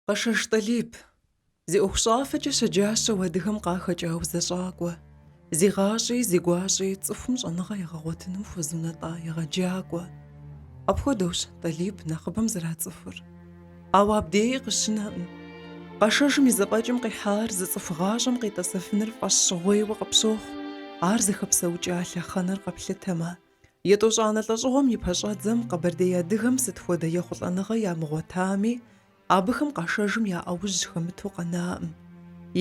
Къэшэж Тӏалиб. Зи ӏуэхущӏафэкӏэ щэджащэу адыгэм къахэкӏа узэщӏакӏуэ. Зи гъащӏи, зи гуащӏи цӏыхум щӏэныгъэ егъэгъуэтыным хуэзунэтӏа егъэджакӏуэ. Апхуэдэущ Тӏалиб нэхъыбэм зэрацӏыхур. Ауэ абдеи къыщынэкъым. Къэшэжым и зэфӏэкӏым къихьар зы цӏыху гъащӏэм къитӏэсэфыныр фӏэщщӏыгъуейуэ къыпщохъу, ар зыхэпсэукӏа лъэхъэнэр къэплъытэмэ. Етӏощӏанэ лӏэщӏыгъуэм и пэщӏэдзэм къэбэрдей адыгэм сыт хуэдэ ехъулӏэныгъэ ямыгъуэтами, абыхэм Къэшэжым и ӏэужь хэмыту къэнаӏым.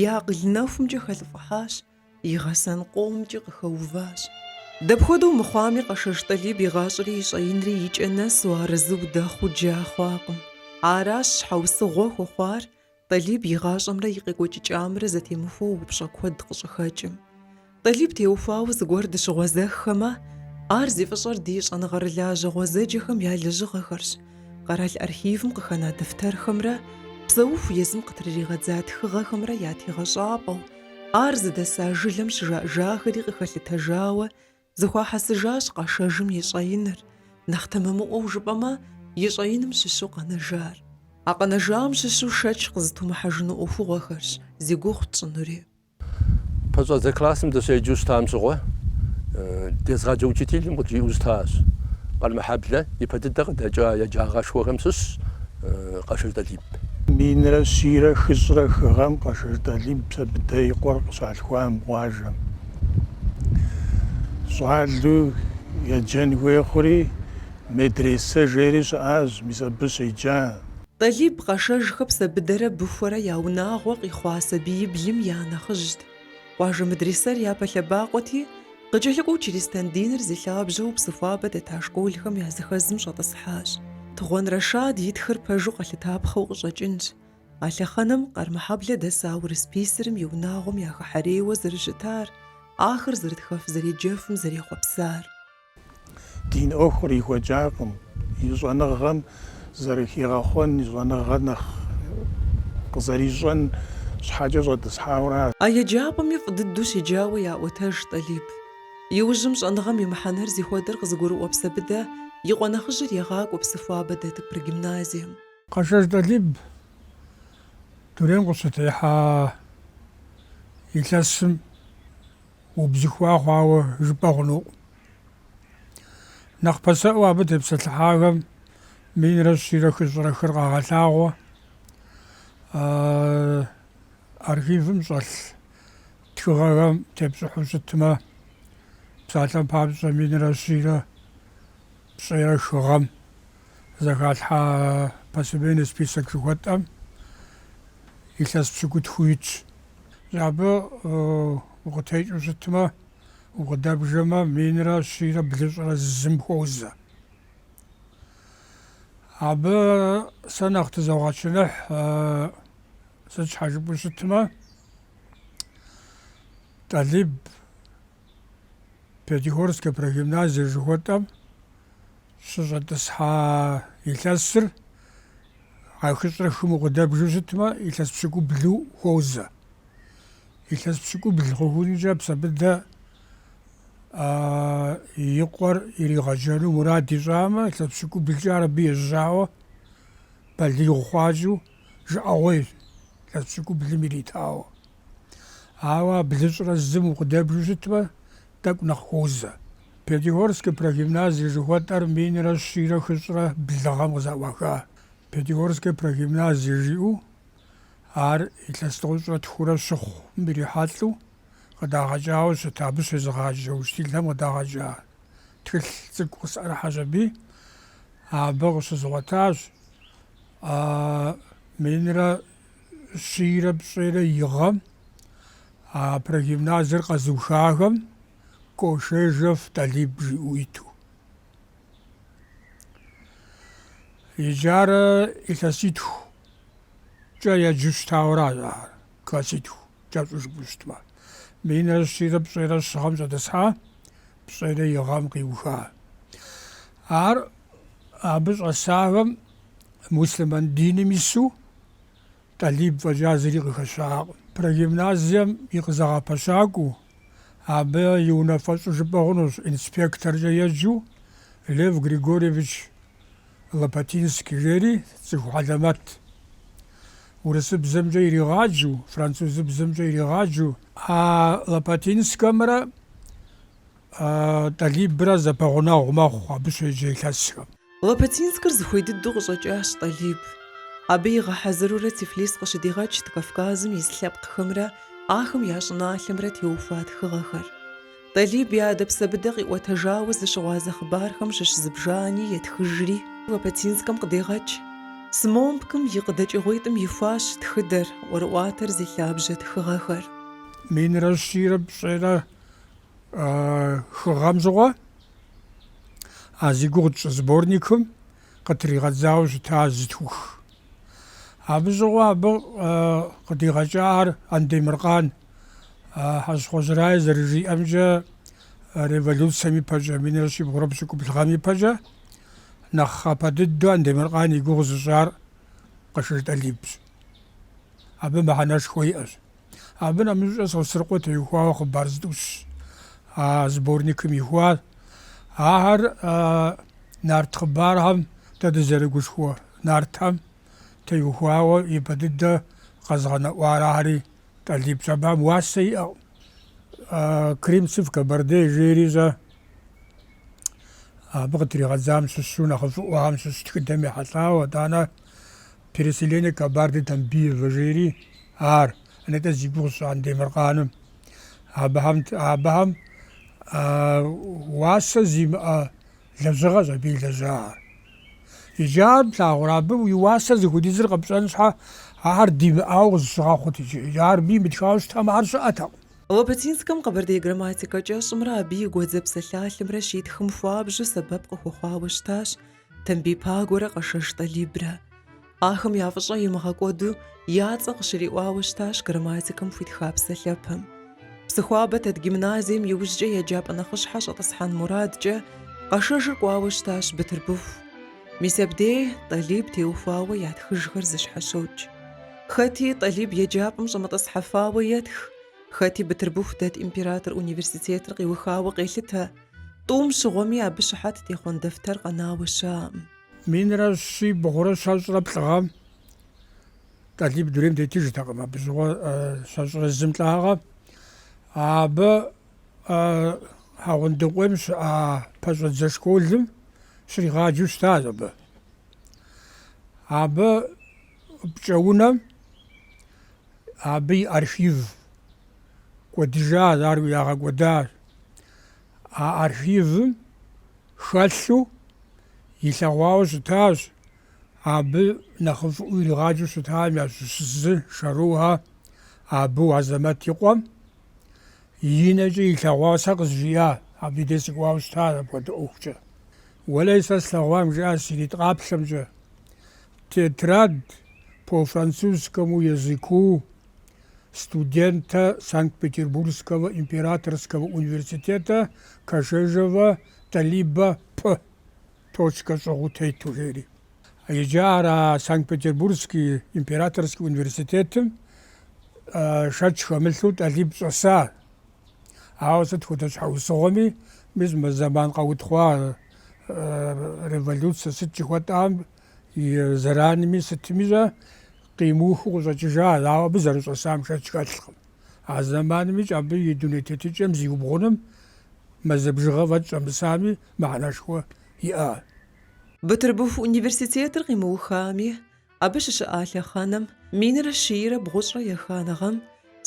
И акъыл нэхумкӏэ хэлӏыфӏыхьащ И гъэсэн къомкӏи къыхэуващ. Дапхуэдэу мыхъуами, Къэшэж Тӏалиб и гъащӏэри и щӏэинри и кӏэ нэсу арэзы удэхъуу джа хъуакъым. Аращ щхьэусыгъуэ хуэхъуар Тӏалиб и гъащӏэмрэ и къекӏуэкӏыкӏамрэ зэтемыхуэу упщӏэ куэд къыщӏыхэкӏым. Тӏалиб теухуауэ зыгуэр дыщыгъуэзэххэмэ, ар зи фӏыщӏэр ди щӏэныгъэрылажьэ гъуэзэджэхэм я лэжьыгъэхэрщ, къэрал архивым къыхэна дэфтэрхэмрэ псэуху езым къытрыригъэдза тхыгъэхэмрэ я тегъэщӏапӏэу, Ар зыдэса жылэм щыжаӏэжахэри къыхэлъытэжауэ, зэхуахьэсыжащ Къэшэжым и щӏэиныр, нэхъ тэмэмыӏуэу жыпӏэмэ, и щӏэиным щыщу къэнэжар. А къэнэжам щыщу шэч къызытумыхьэжыну ӏуэхугъуэхэрщ зи гугъу тщӏынури. Пэщӏэдзэ классым дыщеджэу щытам щыгъуэ, дезгъаджэ учителым къыджиӏэу щытащ, Къармэхьэблэ ипэ дыдэ къыдэкӏа еджагъэшхуэхэм щыщщ Къэшэж Тӏалиб. Минрэ щийрэ хыщӏрэ хы гъэм Къэшэж Тӏалиб Псэбыдэ и къуэр къыщалъхуам къуажэм. Щӏалэу еджэн хуей хъури, медресэ жери щыӏащ, мис абы щеджа. Тӏалиб Къэшэжхэ Псэбыдэрэ Быхуэрэ я унагъуэ къихъуа сабииблым я нэхъыжьт. Къуажэ мэдрисэр япэ лъэбакъуэти, къыкӏэлъыкӏуэу чристэн диныр зи лъабжьэу Псыхуабэ дэта школхэм языхэзым щӏэтӏысхьащ. Тыгъуэн Рэшад итхыр пэжу къэлъытапхъэу къыщӏэкӏынщ. А лъэхъэнэм Къармэхьэблэ дэса урыс писырым и унагъуэм яхыхьэрейуэ зэрыщытар, ахэр зэрытхэф-зэреджэфым зэрехъуэпсар. Дин ӏуэху кърихуэкӏакъым, и щӏэныгъэм зэрыхигъэхъуэн, и щӏэныгъэр нэхъ къызэрищӏэн щхьэкӏэ щӏэтӏысхьауэ. А еджапӏэми фӏы дыдэу щеджауэ яӏуэтэж Тӏалиб. Иужьым щӏэныгъэм и мыхьэнэр зихуэдэр къызыгурыӏуэ Псэбыдэ и къуэ нэхъыжьыр егъакӏуэ Псыхуабэ дэт прогимназием. Къэшэж Тӏалиб дунейм къыщытехьа илъэсым. Убзыхуа хъуауэ жыпӏэ хъунукъым. Нэхъ пасэӏуэу абы тепсэлъыхьахэм минрэ щийрэ хыщӏрэ хыр къагъэлъагъуэ архивым щӏэлъ тхыгъэхэм тепщӏыхьу щытмэ, псалъэм папщӏэ, минрэ щийрэ пщӏейрэ хы гъэм зэхалъхьа посемейный список жыхуэтӏэм илъэс пщыкӏутху итщ. Абы укъытекӏыу щытмэ, укъыдэбжэмэ, минрэ щийрэ блыщӏрэ зым хуозэ. Абы сэ нэхъ тызогъэчыныхь, сыт щхьэ жыпӏэу щытмэ, Тӏалиб Пятигорскэ прогимназие жыхуэтӏэм щыщӏэтӏысхьа илъэсыр а хыщӏрэ хым укъыдэбжу щытмэ, илъэс пщыкӏублу хуозэ. Илъэс пщыкӏубл хъухункӏэ Псэбыдэ и къуэр иригъэджэну мурад ищӏамэ, илъэс пщыкӏублкӏэ ар абы ежьауэ балигъ хъуакӏэу жыӏэгъуейщ илъэс пщыкӏублым иритауэ. Ауэ а блыщӏрэ зым укъыдэбжу щытмэ, тӏэкӏу нэхъ хуозэ. Пятигорскэ прогимназие жыхуэтӏэр минрэ щийрэ хыщӏрэ блы гъэм къызэӏуаха. Пятигорскэ прогимназие жиӏэу ар илъэс тӏощӏрэ тхурэ щыхъум ирихьэлӏэу къыдагъэкӏауэ щыт, абы щезыгъаджэ учителхэм къыдагъэкӏа тхылъ цӏыкӏу къысӏэрыхьэщ аби. Абы къыщызгъуэтащ минрэ щийрэ пщӏейрэ и гъэм а прогимназиер къэзыухахэм Кошежев Талиб жиӏэу иту. Иджарэ илъэситхукӏэ еджэу щытауэ ар, класситху кӏэщӏу жыпӏэу щытмэ. Минрэ щийрэ пщӏейрэ щы гъэм щӏэтӏысхьа пщӏейрэ и гъэм къиуха. Ар абы щӏэсахэм муслъымэн диным ису Тӏалиб фӏэкӏа зыри къыхэщакъым. Прогимназием и къызэгъэпэщакӏуэу, абы и унафэщӏу жыпӏэ хъунущ, инспекторкӏэ еджэу Лев Григорьевич Лопатинский жери цӏыху хьэлэмэтт. Урысыбзэмкӏэ иригъаджу, французыбзэмкӏэ иригъаджу. А Лопатинскэмрэ Тӏалибрэ зэпэгъунэгъу мэхъу абы щеджэ илъэсхэм. Лопатинскыр зыхуей дыдэу къыщӏэкӏащ Тӏалиб. Абы игъэхьэзырурэ Тифлис къыщыдигъэкӏт Кавказым ис лъэпкъхэмрэ ахэм я щӏыналъэмрэ теухуа тхыгъэхэр. Тӏалиб и адэ Псэбыдэ къиӏуэтэжауэ зыщыгъуазэ хъыбархэм щыщ зыбжани етхыжри, Лопатинскэм къыдегъэкӏ. СМОМПК-м и къыдэкӏыгъуитӏым ихуащ тхыдэр, ӏуэрыӏуатэр зи лъабжьэ тхыгъэхэр. Минрэ щийрэ пщӏейрэ хы гъэм щыгъуэ а зи гугъу тщӏы сборникым къытригъэдзауэ щыта зытхух. Абы щыгъуэ абы къыдигъэкӏар Андемыркъан. Хьэщхъуэжь Рае зэрыжиӏэмкӏэ, революцэм ипэкӏэ, минрэ щибгъурэ пщыкӏубл гъэм ипэкӏэ, нэхъапэ дыдэу Андемыркъан и гугъу зыщӏар Къэшэж Тӏалибщ. Абы мыхьэнэшхуэ иӏэщ. Абы нэмыщӏкӏэ Сосрыкъуэ теухуауэ хъыбар зытӏущ а сборникым ихуар. Ахэр нарт хъыбархэм дэ дызэрыгушхуэ нартхэм теухуауэ ипэ дыдэ къэзгъэнэӏуар ахьэри Тӏалибщ. Абыхэм уасэ иӏэкъым. «Крымцы в Кабарде» жери зэ абы къытригъэдзам щыщу нэхъыфӏыӏуэхэм щыщ тхыдэм ехьэлӏауэ, итӏанэ «Переселение Кабарды Тамбиева» жери ар, нтӏэ зи гугъу сщӏа Андемыркъаным. Абыхэм, абыхэм уасэ зимыӏэ лэжьыгъэщ абы илэжьахэр. Иджы ар плъагъурэ, абы и уасэ зыхуэдизыр къэпщӏэн щхьэ, ахэр димыӏауэ къызыщыгъэхъут иджы. Ар абы имытхауэ щытамэ, ар щыӏэтэкъым. Лопатинскэм къэбэрдей грамматикэ кӏэщӏымрэ абы и гуэдзэ псалъалъэмрэ щитхым хуабжьу сэбэп къыхуэхъуауэ щытащ. Тамбий Пагуэрэ Къэшэж Тӏалибрэ. Ахэм я фӏыщӏэ имыгъэкӏуэду я цӏэ къыщриӏуауэ щытащ грамматикэм хуитха псалъэпэм. Псыхуабэ дэт гимназием иужькӏэ еджапӏэ нэхъыщхьэ щӏэтӏысхьэн мурадкӏэ Къэшэжыр кӏуауэ щытащ Бытырбыху. Мис абдей Тӏалиб теухуауэ ятхыжхэр зыщхьэщокӏ. Хэти Тӏалиб еджапӏэм щӏэмытӏысхьэфауэ етх, хэти Бытырбыху дэт император университетыр къиухауэ къелъытэ. Тӏум щыгъуэми абы щыхьэт техъуэн дэфтэр къэнауэ щыӏэкъым. Минрэ щибгъурэ щэщӏрэ плӏыгъэм Тӏалиб дунейм тетыжтэкъым абы щыгъуэ щэщӏрэ зым лӏагъэ. Абы Хьэгъундыкъуейм щыӏа пэщӏэдзэ школым щригъаджэу щытащ абы. Абы пкӏэунэм абы и архив кӏуэдыжащ, ар ягъэкӏуэдащ. А архивым хэлъу илъэгъуауэ щытащ, абы нэхъыфӏыу иригъаджэу щытам ящыщ зы Шэрухэ Абу Азэмэт и къуэм и нэкӏэ илъэгъуауэ сэ къызжиӏа, абы и дей сыкӏуауэ щыта апхуэдэ ӏуэхукӏэ. Уэлэхьи, сэ слъэгъуам жиӏащ си нитӏ къаплъэмкӏэ, тетрадь по французскому языку, студента Санкт-Петербургского императорского университета Кашежева Талиба П. Точкэ щӏыгъуу тету жери. Иджы ар а Санкт-Петербургский императорский университетым шэч хэмылъу Тӏалиб щӏэса. Ауэ сыт хуэдэ щхьэусыгъуэми, мис мы зэман къэутхъуа революцэ сыт жыхуэтӏам, И зэранми сытми щӏэ къимыухыу къыщӏэкӏыжащ, ауэ абы зэрыщӏэсам шэч хэлъкъым. А зэманымикӏ абы и дуней тетыкӏэм зиубгъуным мазэ бжыгъэ фӏэкӏ щӏэмысами мыхьэнэшхуэ иӏащ. Бытырбыху университетыр къимыухами, абы щыщыӏа лъэхъэнэм минрэ щийрэ бгъущӏрэ еханэ гъэм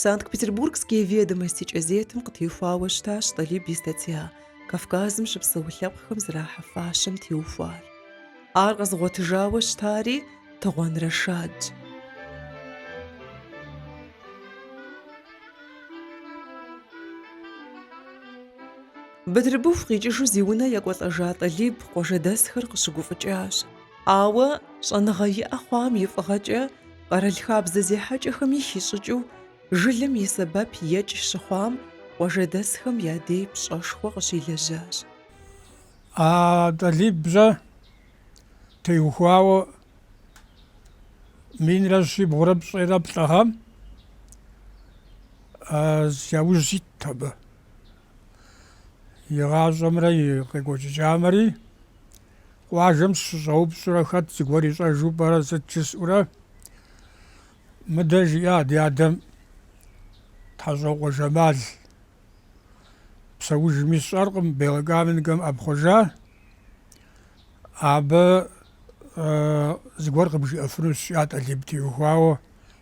Санкт-Петербургские ведомости кӏэзетым къытехуауэ щытащ Тӏалиб и статья Кавказым щыпсэу лъэпкъхэм зэрахьэ фащэм теухуар. Ар къэзыгъуэтыжауэ щытари Тыгъуэн Рэшадщ. Бытырбыху къикӏыжу зи унэ екӏуэлӏэжа Тӏалиб къуажэдэсхэр къыщыгуфӏыкӏащ. Ауэ щӏэныгъэ иӏэ хъуам и фӏыгъэкӏэ къэрал хабзэ зехьэкӏэхэми хищӏыкӏыу жылэм и сэбэп екӏ щыхъуам къуажэдэсхэм я дей пщӏэшхуэ къыщилэжьащ. А Тӏалибжьэ теухуауэ минрэ щибгъурэ пщӏейрэ плӏы гъэм яужь ситт абы, и гъащӏэмрэ и къекӏуэкӏыкӏамэри. Къуажэм сыщыщӏэупщӏурэ, хэт зыгуэр ищӏэжу пӏэрэ сыт жысӏэурэ, мыдэ жиӏа ди адэм Тхьэщӏокъуэ Жэмал. Псэужми сщӏэркъым, Белокаменкэм ӏэпхъуэжа. Абы зыгуэр къыбжиӏэфынущ, жиӏа, Тӏалиб теухуауэ,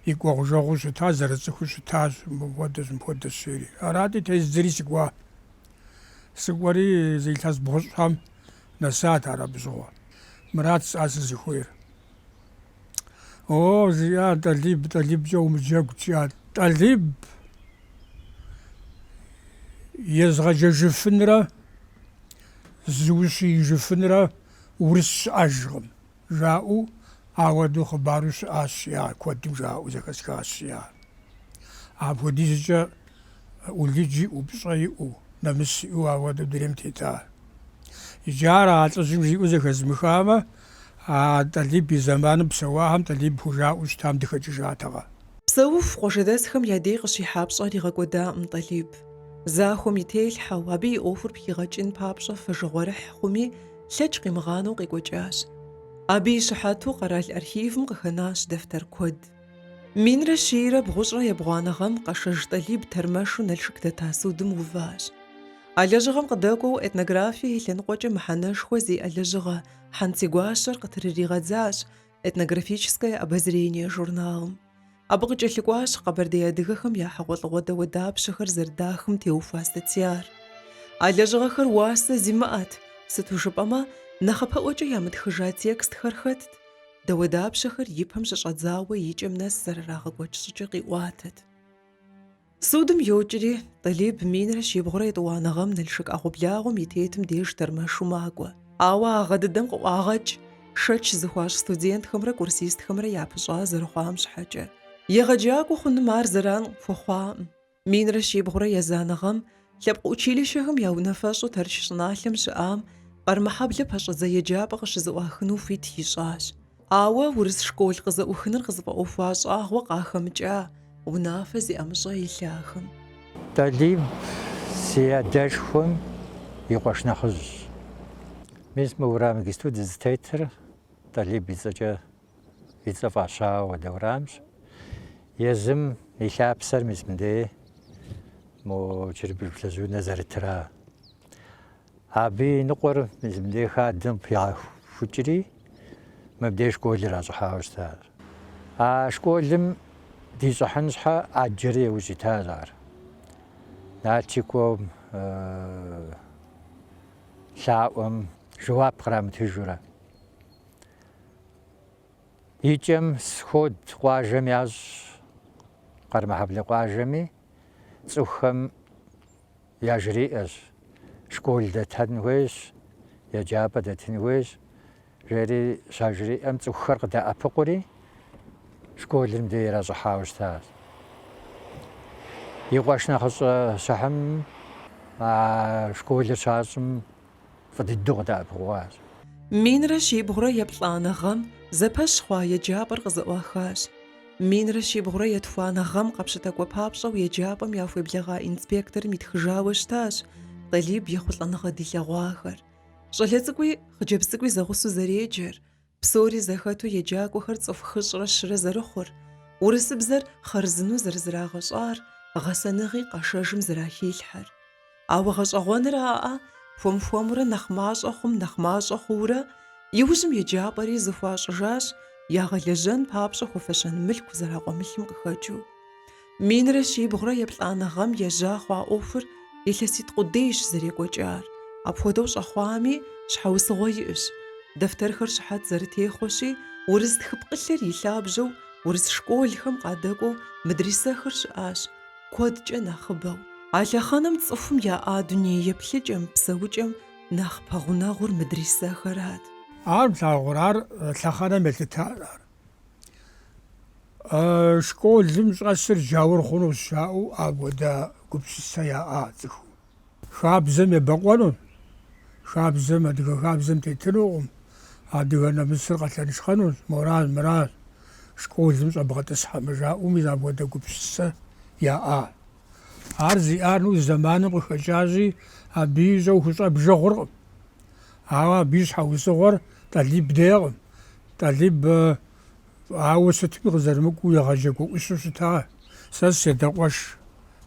и кӏуэгъужэгъуу щытащ, зэрыцӏыхуу щытащ, мыпхуэдэщ, мыпхуэдэщ жери. Арати, тездзэри сыкӏуа. Сыкӏуэри зы илъэс бгъущӏхэм нэсат ар абы щыгъуэ. Мырат, жысӏа, сызыхуейр. О, жиӏа, Тӏалиб, Тӏалибкӏэ умыджэгу, жиӏа, Тӏалиб езыгъэджэжыфынрэ зыущиижыфынрэ урыс щыӏэжкъым. жаӏэу ауэдэу хъыбару щыӏащ, жиӏа, куэдым жаӏэу зэхэсхащ, жиӏа. Апхуэдизкӏэ ӏулыдж иӏэу, пщӏэ иӏэу, нэмыс иӏэу ауэдэу дунейм тета. Иджы ар а лӏыжьым жиӏэу зэхэзмыхамэ, а Тӏалиб и зэманым псэуахэм Тӏалиб хужаӏэу щытам дыхэкӏыжатэкъэ? Псэуху къуажэдэсхэм я дей къыщихьа пщӏэр игъэкӏуэдакъым Тӏалиб. Захуэм и телъхьэу, абы и ӏуэхур пхигъэкӏын папщӏэ фэжыгъуэрыхь хъуми, Лъэкӏ къимыгъанэу къекӏуэкӏащ. Абы и щыхьэту къэрал архивым къыхэнащ дэфтэр куэд. Минрэ щийрэ бгъущӏрэ ебгъуанэ гъэм Къэшэж Тӏалиб тэрмэшу Налшык дэта судым уващ. А лэжьыгъэм къыдэкӏуэу этнографие и лъэныкъуэкӏэ мыхьэнэшхуэ зиӏэ лэжьыгъэ Хьэнцигуащэр къытрыригъэдзащ, Этнографическое обозрение журналым. Абы къыкӏэлъыкӏуащ къэбэрдей адыгэхэм я хьэгъуэлӏыгъуэ дауэдапщэхэр зэрыдахым теухуа статьяр. А лэжьыгъэхэр уасэ зимыӏэт, сыту жыпӏэмэ, нэхъапэӏуэкӏэ ямытхыжа текстхэр хэтт, дауэдапщэхэр и пэм щыщӏэдзауэ и кӏэм нэс зэрырагъэкӏуэкӏ щӏыкӏэ къиӏуатэт. Судым йокӏри, Тӏалиб минрэ щибгъурэ етӏуанэ гъэм Налшык ӏэгъуэблагъэм и тетым деж тэрмэшу макӏуэ. Ауэ а гъэ дыдэм къыӏуагъэкӏ шэч зыхуащӏ студентхэмрэ курсистхэмрэ япыщӏа зэрыхъуам щхьэкӏэ. Егъэджакӏуэ хъуным ар зэран хуэхъуакъым. Минрэ щибгъурэ езанэ гъэм Лъэпкъ училищэхэм я унафэщӏу Тэрч щӏыналъэм щыӏам Къэрмэхьэблэ пэщӏэдзэ еджапӏэ къыщызэӏуахыну хуит ищӏащ. Ауэ урыс школ къызэӏухыныр къызыфӏэӏуэхуа щӏагъуэ къахэмыкӏа унафэ зи ӏэмыщӏэ илъахэм. Тӏалиб си адэшхуэм и къуэш нэхъыжьщ. Мис мы уэрам иджыпсту дызытетыр Тӏалиб и цӏэкӏэ и цӏэ фӏащауэ ди уэрамщ. Езым и лъапсэр мис мыдей мо чырбыш плъыжь унэ зэрытыра. Абы и ныкъуэр мис мыдей хадэм пигъэхукӏри, мыбдей школ иращӏыхьауэ щытащ. А школым дищӏыхьын щхьэ ӏэджэри иужь итащ ар. Налчик кӏуэм, лъаӏуэм жэуап кърамытыжурэ. И кӏэм сход къуажэм ящӏ Къэрмэхьэблэ къуажэми цӏыхухэм яжриӏэщ, школ дэтын хуейщ, еджапӏэ дэтын хуейщ, жери щажриӏэм цӏыхухэр къыдэӏэпыкъури, школыр мыдей иращӏыхьауэ щытащ. И къуэш нэхъыщӏэ Щыхьым а школыр щащӏым Фӏы дыдэу къыдэӏэпыкъуащ. Минрэ щибгъурэ еплӏанэ гъэм зэпэщ хъуа еджапӏэр къызэӏуахащ. Минрэ щибгъурэ етхуанэ гъэм къэпщытакӏуэ папщӏэу еджапӏэм яхуеблэгъа инспекторым итхыжауэ щытащ Тӏалиб ехъулӏэныгъэ дилъэгъуахэр. Щӏалэ цӏыкӏуи хъыджэбз цӏыкӏуи зэгъусэу зэреджэр, Псори зэхэту еджакӏуэхэр цӏыху хыщӏрэ щырэ зэрыхъур, урысыбзэр хъарзынэу зэрызрагъэщӏар, гъэсэныгъи Къэшэжым зэрахилъхьэр. Ауэ гъэщӏэгъуэныр аӏа, хуэм-хуэмурэ нэхъ мащӏэ хъум нэхъ мащӏэ хъуурэ, иужьым еджапӏэри зэхуащӏыжащ, ягъэлэжьэн папщӏэ хуэфэщэн мылъку зэракъуэмылъым къыхэкӏыу. Минрэ щибгъурэ еплӏанэ гъэм ежьа хъуа ӏуэхур илъэситӏ къудейщ зэрекӏуэкӏар. Апхуэдэу щӏэхъуами, щхьэусыгъуэ иӏэщ. Дэфтэрхэр щыхьэт зэрытехъуэщи, урыс тхыпкъылъыр и лъабжьэу урыс школхэм къадэкӏуэу мыдрисэхэр щыӏащ, куэдкӏэ нэхъыбэу. А лъэхъэнэм цӏыхум яӏа дуней еплъыкӏэм, псэукӏэм нэхъ пэгъунэгъур мыдрисэхэрат. Ар плъагъур, ар лъэхъэнэм елъытар, ар Школым щӏэсыр джаур хъуну жаӏэу апхуэдэ гупсысэ яӏа цӏыхум. Хабзэм ебэкъуэну, хабзэм, адыгэ хабзэм тетынукъым, адыгэ нэмысыр къэлъэншхъэнущ, моращ-мыращ, школым щӏэбгъэтӏысхьэмэ жаӏэу мис апхуэдэ гупсысэ яӏа. Ар зиӏар, ну, зэманым къыхэкӏащи, абы ищӏэу хущӏэ бжыгъуркъым. Ауэ абы и щхьэусыгъуэр тӏалиб дейкъым. Тӏалиб ауэ сытми къызэрымыкӏуу егъэджакӏуэ ӏущу щыта. Сэ си адэ къуэш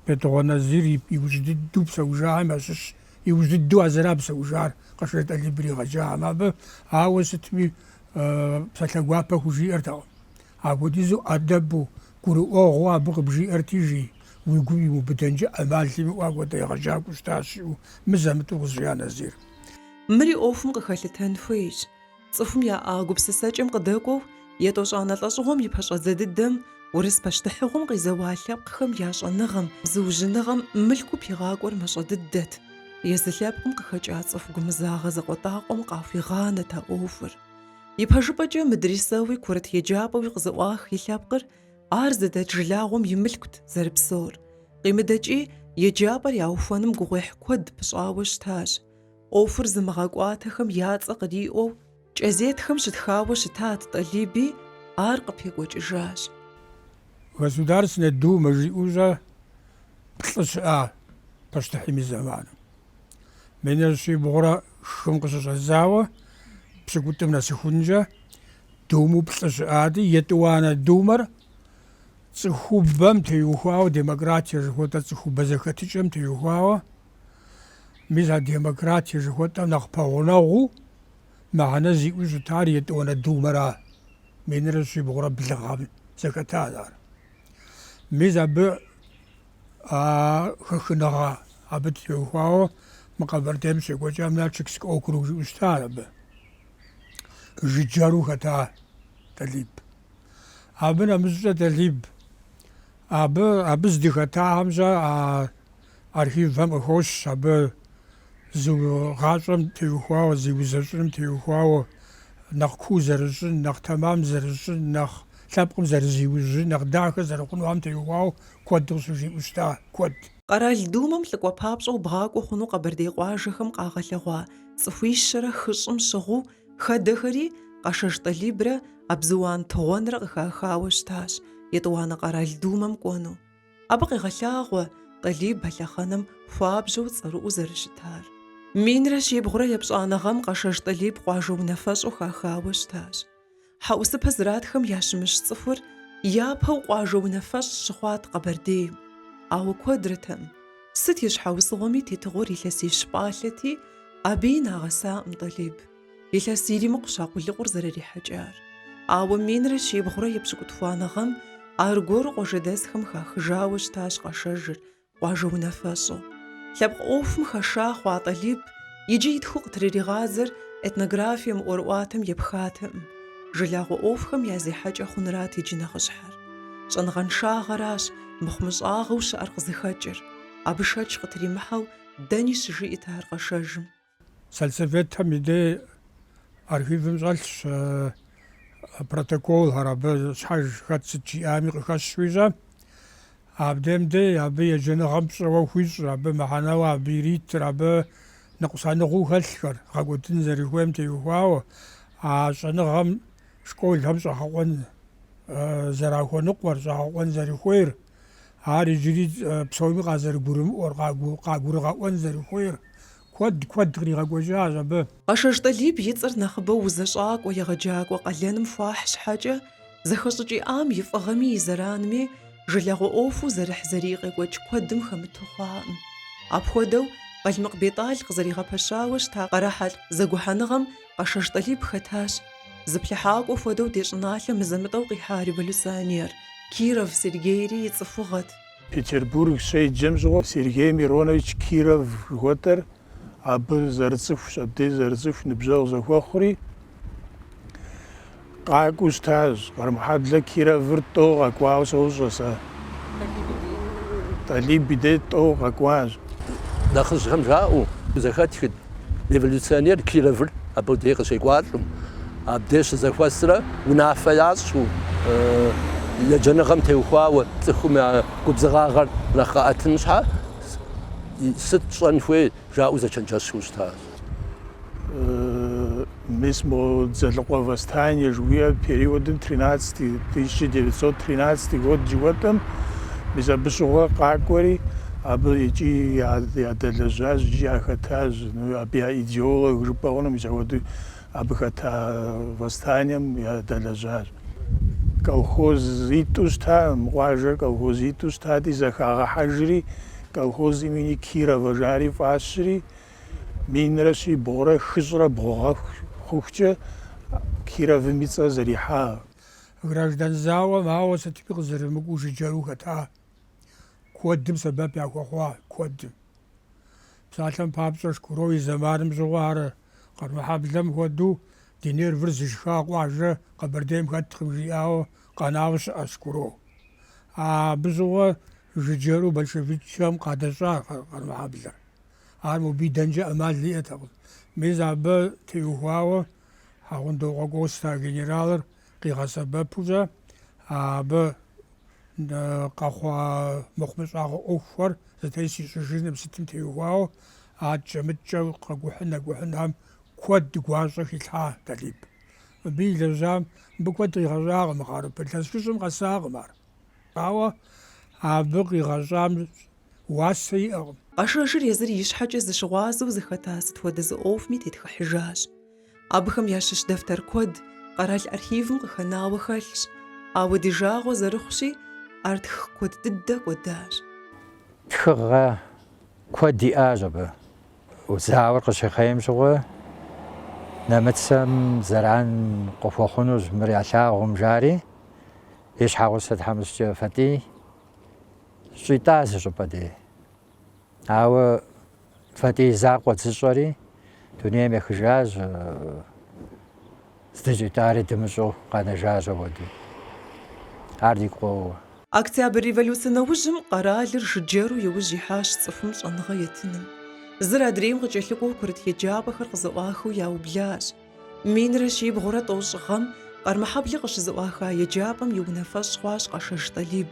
Бетыгъуэн Назир иужь дыдэу псэужахэм ящыщ. Иужь дыдэу а зыра псэужар, Къэшэж Тӏалиб иригъэджахэм абы. Ауэ сытми псалъэ гуапэ хужиӏэртэкъым. Апхуэдизу ӏэдэбу, гурыӏуэгъуэу абы къыбжиӏэрти, жи, уи гум имыубыдэнкӏэ ӏэмал имыӏэу апхуэдэ егъэджакӏуэу щытащ, жиӏэу мызэ-мытӏэу къызжиӏа Назир. Мыри ӏуэхум къыхэлъытэн хуейщ. Цӏыхум яӏа гупсысэкӏэм къыдэкӏуэу, етӏощӏанэ лӏэщӏыгъуэм и пэщӏэдзэ дыдэм, урыс пащтыхьыгъуэм къизэуа лъэпкъхэм я щӏэныгъэм, зыужьыныгъэм мылъку пигъакӏуэр мащӏэ дыдэт. Езы лъэпкъым къыхэкӏа цӏыху гумызагъэ закъуэтӏакъуэм къахуигъанэт а ӏуэхур. Ипэжыпӏэкӏэ мыдрисэуи курыт еджапӏэуи къызэӏуах лъэпкъыр, ар зыдэт жылагъуэм и мылъкут зэрыпсэур. Къимыдэкӏи, еджапӏэр яухуэным гугъуехь куэд пыщӏауэ щытащ. ӏуэхур зымыгъэкӏуатэхэм я цӏэ къриӏуэу кӏэзетхэм щытхауэ щытат Тӏалиби, ар къыпекӏуэкӏыжащ. Государственнэ Думэ жиӏэу щӏэ плӏы щыӏа пащтыхьым и зэманым. Минрэ щибгъурэ хым къыщыщӏэдзауэ пщыкӏутӏым нэсыхункӏэ думэу плӏы щыӏати, етӏуанэ Думэр цӏыхубэм теухуауэ, демократие жыхуэтӏэ цӏыхубэ зэхэтыкӏэм теухуауэ, мис а демократие жыхуэтӏэм нэхъ пэгъунэгъуу мыхьэнэ зиӏэу щытар етӏуанэ Думэра, минрэ щибгъурэ блы гъэм зэхэтащ ар. Мис абы А хэхыныгъэ абы теухуауэ мы Къэбэрдейм щекӏуэкӏам Нальчикскэ округ жиӏэу щыта абы. Жыджэру хэта Тӏалиб. Абы нэмыщӏкӏэ Тӏалиб абы, абы здыхэтахэм щӏэ а архивхэм къыхощ абы Зы гъащӏэм теухуауэ, зи узэщӏыным теухуауэ нэхъ куу зэрыщӏын, нэхъ тэмам зэрыщӏын, нэхъ лъэпкъым зэрызиужьын, нэхъ дахэ зэрыхъунухэм теухуауэ куэд къыщыжиӏэу щыта, куэд. Къэрал Думэм лӏыкӏуэ папщӏэу бгъакӏуэ хъуну къэбэрдей къуажэхэм къагъэлъэгъуа цӏыхуищэрэ хыщӏым щыгъуу хэдэхэри Къэшэж Тӏалибрэ Абзыуан Тыгъуэнрэ къыхахауэ щытащ Етӏуанэ къэрал Думэм кӏуэну. Абы къегъэлъагъуэ Тӏалиб а лъэхъэнэм хуабжьэу цӏэрыӏуу зэрыщытар. Минрэ щибгъурэ епщӏанэ гъэм Къэшэж Тӏалиб къуажэ унафэщӏу хахауэ щытащ. Хьэӏусыпэ зратхэм ящымыщ цӏыхур япэу къуажэ унафэщӏ щыхъуат Къэбэрдейм. Ауэ куэдрэтэм, сыт и щхьэусыгъуэми тетыгъуэр илъэсищ пӏалъэти, абыи нагъэсакъым Тӏалиб. Илъэс иримыкъущ а къулыкъур зэрырихьэкӏар. Ауэ минрэ щибгъурэ епщыкӏутхуанэ гъэм аргуэру къуажэдэсхэм хахыжауэ щытащ Къэшэжыр къуажэ унафэщӏу. Лъэпкъ ӏуэхум хэша хъуа Тӏалиб иджы итхыу къытрыригъадзэр этнографием ӏуэрыӏуатэм епхатэкъым, жылагъуэ ӏуэхухэм я зехьэкӏэ хъунрат иджы нэхъыщхьэр. Щӏэныгъэншагъэращ мыхъумыщӏагъэу щыӏэр къызыхэкӏыр, абы шэч къытримыхьэу дэни щыжиӏэт ар Къэшэжым. Сельсоветхэм и дей архивым щӏэлъщ протоколхэр, абы щхьэж хэт сыт жиӏами къыхэщуи щӏэ. Абдем дей абы еджэныгъэм пщӏэуэ хуищӏ, абы мыхьэнэуэ абы иритыр, абы ныкъусаныгъэу хэлъхэр, гъэкӏуэдын зэрыхуейм теухуауэ, а щӏэныгъэм школхэм щӏэгъэкъуэн зэрахуэныкъуэр, щӏэгъэкъуэн зэрыхуейр. Ар иджыри псоми къазэрыгурымыӏуэр, къагурыгъэӏуэн зэрыхуейр куэд куэд къригъэкӏуэкӏащ абы. Къэшэж Тӏалиб и цӏэр нэхъыбэу узэщӏакӏуэ егъэджакӏуэ къалэным хуахь щхьэкӏэ, зэхэщӏыкӏ иӏам и фӏыгъэми и зэранми жылагъуэ ӏуэхуу зэрыхьзэрий къекӏуэкӏ куэдым хэмыту хъуакъым. Апхуэдэу, Къалмыкъ Бетӏал къызэригъэпэщауэ щыта Къэрэхьэлъкъ зэгухьэныгъэм Къэшэж Тӏалиб хэтащ. Зыплъыхьакӏуэ хуэдэу ди щӏыналъэм мызэ-мытӏэу къихьа революционер Киров Сергейри и цӏыхугъэт. Петербург щеджэм щыгъуэ Сергей Миронович Киров жыхуэтӏэр абы зэрыцӏыхущ, абдей зэрыцӏыху ныбжьэгъу зэхуэхъури, Къакӏуэу щытащ. Къармэхьэблэ Кировыр тӏэу къэкӏуауэ сощӏэ сэ. Тӏалиб и дей тӏэу къэкӏуащ. Нэхъыжьхэм жаӏэу зэхэтхыт революционер Кировыр абы дей къыщекӏуалӏэм, абдей щызэхуэсрэ унафэ ящӏу, еджэныгъэм теухуауэ цӏыхум я губзыгъагъэр нэхъ къэӏэтын щхьэ сыт щӏэн хуей жаӏэу зэчэнджэщу щытащ. мис мо Дзэлыкъуэ восстание жыхуиӏэ периодым 1913 год жыхуэтӏэм мис абы щыгъуэ къакӏуэри абы икӏи ядэлэжьащ икӏи яхэтащ ну, абы я идеолог жыпӏэ хъуну мис апхуэдэу абы хэта восстанием ядэлэжьащ колхоз итӏу щыта мы къуажэр колхоз итӏу щытати зэхагъэхьэжри колхоз имени Кирова жари фӏащри Минрэ щибгъурэ хыщӏрэ бгъу гъэ хъухукӏэ Кировым и цӏэр зэрихьа. Граждан зауэм ауэ сытми къызэрымыкӏуу жыджэру хэта. Куэдым сэбэп яхуэхъуа, куэдым. Псалъэм папщӏэ, Шкуро и зэманым щыгъуэ ар Къармэхьэблэм хуэдэу ди нервыр зышха къуажэ Къэбэрдейм хэткъым жиӏауэ къэнауэ щыӏэщ Шкуро. Абы щыгъуэ жыджэру большевикхэм къадэщӏа Къармэхьэблэр. Ар мобы идэнкӏэ ӏэмал иӏэтэкъым. Мис абы теухуауэ Хьэгъундокъуэ Костэ генералыр къигъэсэбэпукӏэ, абы къэхъуа мыхъумыщӏагъэ ӏуэхухэр зэтес ищӏыжыным сытым теухуауэ адкӏэ-мыдкӏэ къэкӏухьын-нэкӏухьыным куэд гуащӏэ хилъхьа Талиб. Мыбы илэжьам, мыбы куэд къигъэщӏакъым мы хъарыпыр илъэс хыщӏым къэсакъым ар. Ауэ абы къигъэщӏам уасэ иӏэкъым. Къашэжыр езыр и щхьэкӏэ зыщыгъуазэу зыхэта сыт хуэдэ зы ӏуэхуми тетхыхьыжащ. Абыхэм ящыщ дэфтэр куэд къэрал архивым къыхэнауэ хэлъщ, ауэ ди жагъуэ зэрыхъущи, ар тхы куэд дыдэ кӏуэдащ. Тхыгъэ куэд иӏащ абы. Зауэр къыщихъейм щыгъуэ, нэмыцэм зэран къыхуэхъунущ мыр ялъагъум, жари. И щхьэгъусэ тхьэмыщкӏэ Фатӏий щӏитӏащ зы щӏыпӏэ дей. Ауэ Фатӏий закъуэ зыщӏэри дунейм ехыжащ, здыщӏитӏари дымыщӏэу къэнэжащ апхуэдэу. Ар дигу къоуэ. Октябрь революцэ нэужьым къэралыр жыджэру иужь ихьащ цӏыхум щӏэныгъэ етыным. Зыр адрейм къыкӏэлъыкӏуэу курыт еджапӏэхэр къызэӏуахыу яублащ. Минрэ щибгъурэ тӏощӏ гъэм Къармэхьэблэ къыщызэӏуаха еджапӏэм и унафэщӏ хъуащ Къашэж Тӏалиб,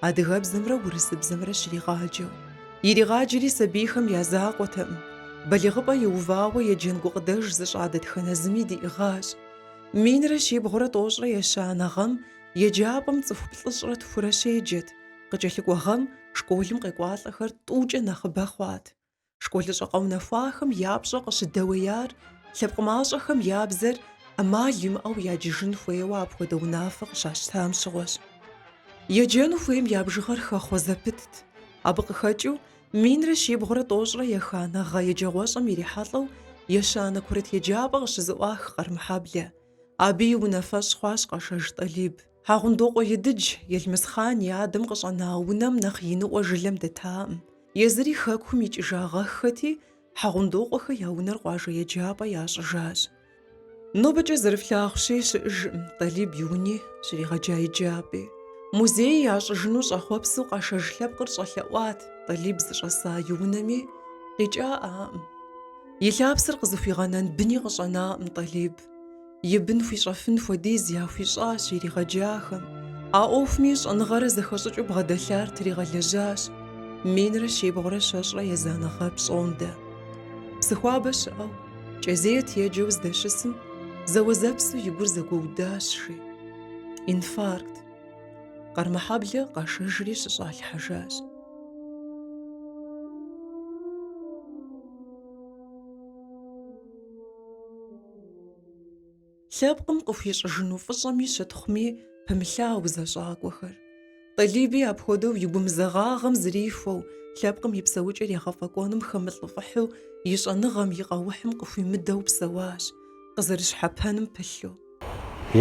адыгэбзэмрэ урысыбзэмрэ щригъаджэу. Иригъаджэри сабийхэм я закъуэтэкъым, балигъыпӏэ иувауэ еджэн гукъыдэж зыщӏа дэтхэнэ зыми диӏыгъащ. Минрэ щибгъурэ тӏощӏрэ ещанэ гъэм еджапӏэм цӏыху плӏыщӏрэ тхурэ щеджэт, къыкӏэлъыкӏуэ гъэм школым къекӏуалӏэхэр тӏукӏэ нэхъыбэ хъуат. Школыщӏэ къэунэхуахэм я пщӏэ къыщыдэуеяр лъэпкъ мащӏэхэм я бзэр ӏэмал имыӏэу яджыжын хуейуэ апхуэдэ унафэ къыщащтам щыгъуэщ. Еджэну хуейм я бжыгъэр хэхъуэ зэпытт. Абы къыхэкӏыу минрэ щибгъурэ тӏощӏрэ еханэ гъэ еджэгъуэщӏэм ирихьэлӏэу ещанэ курыт еджапӏэ къыщызэӏуах Къармэхьэблэ. Абы и унафэщӏ хъуащ Къэшэж Тӏалиб. Хьэгъундокъуэ Едыдж Елмысхъан и адэм къыщӏэна унэм нэхъ иныӏуэ жылэм дэтаӏым. Езыри хэкум икӏыжагъэххэти, Хьэгъундокъуэхэ я унэр къуажэ еджапӏэ ящӏыжащ. Нобэкӏэ зэрыфлъагъущи, щыӏэжӏым Тӏалиб и уни, щригъэджа еджапӏи. Музей ящӏыжыну щӏэхъуэпсу Къэшэж лъэпкъыр щӏэлъэӏуат Тӏалиб зыщӏэса и унэми, къикӏаӏаӏым. И лъапсэр къызыхуигъэнэн быни къыщӏэнаӏым Тӏалиб. и бын хуищӏэфын хуэдиз яхуищӏащ иригъэджахэм. А ӏуэхуми щӏэныгъэрэ зэхэщӏыкӏыу бгъэдэлъар тригъэлэжьащ минрэ щибгъурэ щэщӏрэ езанэ гъэ пщӏондэ. Псыхуабэ щыӏэу, кӏэзет еджэу здэщысым, зэуэзэпсу и гур зэгуэудащ, жи. Инфаркт. Къармэхьэблэ къашэжри щыщӏалъхьэжащ. Лъэпкъым къыхуищӏыжыну фӏыщӏэми щытхъуми, пымылъа узэщӏакӏуэхэр. Тӏалиби апхуэдэу и гумызэгъагъэм зрихуэу, лъэпкъым и псэукӏэр егъэфӏэкӏуэным хэмылӏыфӏыхьу, и щӏэныгъэм, и къэухьым къыхуимыдэу псэуащ, къызэрыщхьэпэным пылъу.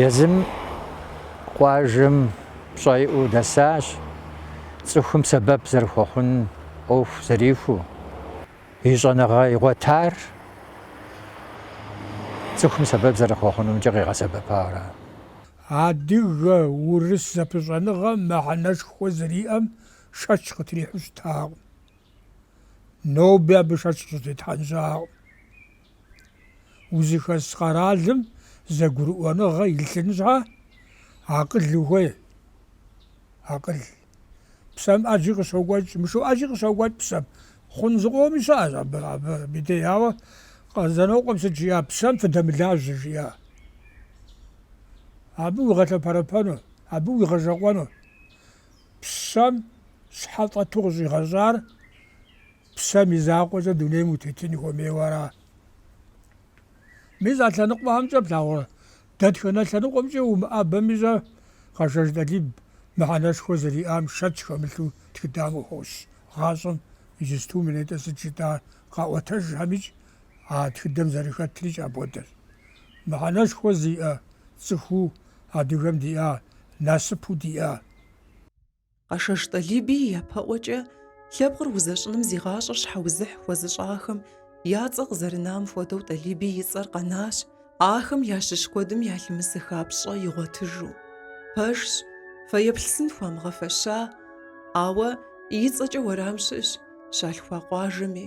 Езым къуажэм пщӏэ иӏэу дэсащ, цӏыхум сэбэп зэрыхуэхъун ӏуэху зэрихуэу. И щӏэныгъэ игъуэтар цӏыхум сэбэп зэрыхуэхъунумкӏэ къигъэсэбэпара. Адыгэ-урыс зэпыщӏэныгъэм мыхьэнэшхуэ зэриӏэм шэч къытрихьу щытакъым. Ноби абы шэч къыщӏытетхьэн щыӏэкъым. Узыхэс къэралым зэгурыӏуэныгъэ илъын щхьэ, акъыл ухуей, акъыл. Псэм ӏэджи къыщокӏуэкӏ, мышыу ӏэджи къыщокӏуэкӏ псэм. Хъун зыкъоми щыӏэщ абы, абдей. Ауэ Къэзанокъуэм сыт жиӏа? Псэм фыдэмылажьэ жиӏа. Абы уигъэлъэпэрэпэну, абы уигъэжэкъуэну. Псэм щхьэ фӏэту къыщӏигъэщӏар псэм и закъуэкӏэ дунейм утетын хуэмейуэ ара? Мис а лъэныкъуэхэмкӏэ плъагъурэ? Дэтхэнэ лъэныкъуэмкӏэ умыӏэбэми щӏэ, Къэшэж Тӏалиб мыхьэнэшхуэ зэриӏам шэч хэмылъу тхыдэм къыхощ. Гъащӏэм иджысту мы нетӏэ сыт жытӏа къаӏуэтэжхэмикӏ а тхыдэм зэрыхэтрикӏ апхуэдэщ. Мыхьэнэшхуэ зиӏэ цӏыхуу адыгэм диӏа насыпу диӏа? Къэшэж Тӏалиби япэӏуэкӏэ лъэпкъыр узэщӏыным зи гъащӏэр щхьэузыхь хуэзыщӏахэм я цӏэ къызэрынам хуэдэу Тӏалиби и цӏэр къэнащ, ахэм ящыщ куэдым ялъымысыха пщӏэ игъуэтыжу. Пэжщ, фэеплъ сын хуамыгъэфэща, ауэ и цӏэкӏэ уэрам щыӏэщ щалъхуа къуажэми,